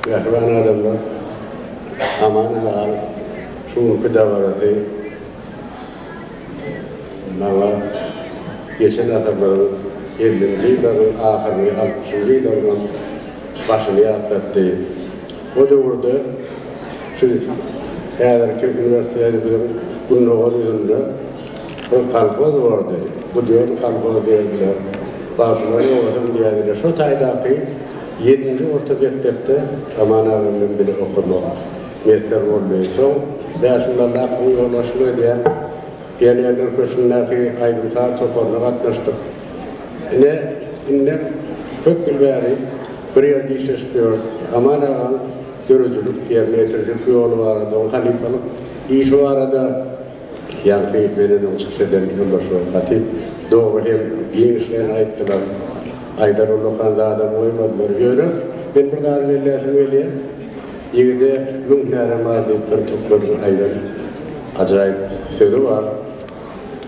Mähriban adamlar, Aman aganyň şu günki dabarasy maňa geçen asyrlaryň ellinji ýyllarynyň ahyryny, altmyşynjy ýyllaryň başyny ýatlatdy. O döwürde şu häzirki uniwersitetimiziň gündogar ýüzünde Bu kolhoz boldy, bu diýen kolhoz diýerdiler. Bagşylar ýogasam diýerdiler. Şo taýdaky ýedinji orta mekdepde Aman aga bilen bile okadok. Messer boldy. Soň Bäşimdalla akymyň ýolbaşçylyk edýän Pionerler köşgündäki aýdym-saz toparyna gatnaşdyk. Ine, indem köp ýyl bäri bir ýerde işleşip ýörüs. Aman agaň döredijilik, ýerine ýetirjilik ýoly barada, onuň halypalyk işi barada. Ýaňky meneden çykyş eden ýoldaşlar Hatip dogry hem giňişleýin aýtdylar. Aýdar ullakan zadam goýmadylar. Ýöne men bir zady belläsim gelýär. Ýigide müň hünärem bar diýip bir türkmeniň aýdan ajaýyp sözi bar.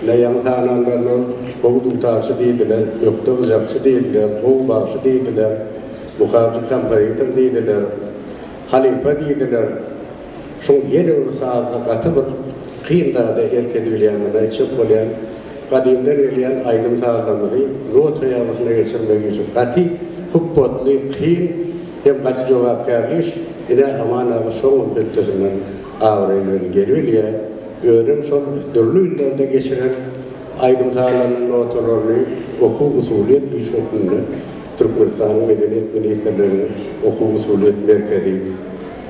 Ine ýaňy sananlaryna ol gowy dutarçy diýdiler, ökde gyjakçy diýdiler, gowy bagşy diýdiler, mukaky kompozitor diýdiler, halypa diýdiler. Şol ýelegiň sazyna gaty bir kyn zada erk edibilýändigini aýtjak bolýan. Gadymdan gelýän aýdym sazlamyzy nota ýazgysyna geçirmek işi gaty hupbatly, kyn hem gaty jogapkärli iş. Ine, Aman aga şoňam hötdesinden abraý bilen gelibilýär. Özem şol dürli illerde geçiren aýdym sazlarynyň notalaryny okuw-usulyýet iş hökmünde Türkmenistanyň Medeniýet ministrliginiň Okuw-usulyýet merkezi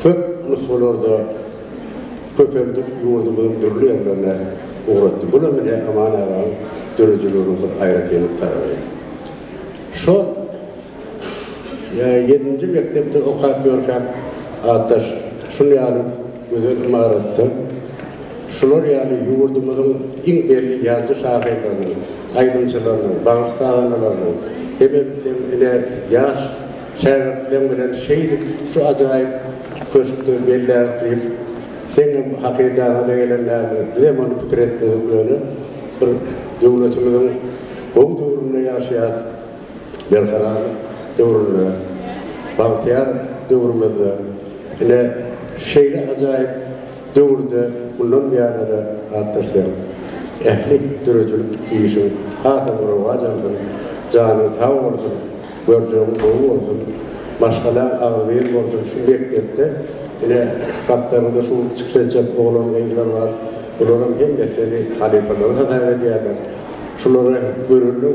köp nusgalarda köpeldip ýurdumyzyň dürli ýerlerine ugratdy. Bulam ine Aman agaň döredijiliginiň bir aýratynlyk tarapy. Şol ýedinji mekdepde okap ýörkäk atdaş şul ýaly gözel ymaratda şular ýaly ýurdumyzyň iň belli ýazyjy-şahyrlarynyň, aýdymçylarynyň, bagşy-sazandalarynyň hemem ine ýaş Şägirtleň bilen şeýdip şu ajaýyp köşkde belläris diýip, seňňem hakydaňaza gelen dälmi? Bizem ony pikir etmedik ýöne bir döwletimiziň gowy döwründe ýaşaýas, berkarar döwründe, bagtyýar döwrümizde. Ine şeýle ajaýyp döwürde mundan beýanada atdaş sen ähli döredijilik işiň hasam rowaç alsyn, janyň sag bolsun! Görjegiň gowy bolsun. Maşgalaň agzybir bolsun şu mekdepde ine gapdalynda şu çykyş etjek oglan gyzlar bar bularam hemmesi seni halypalaryň hasap edýärler şulara görelde.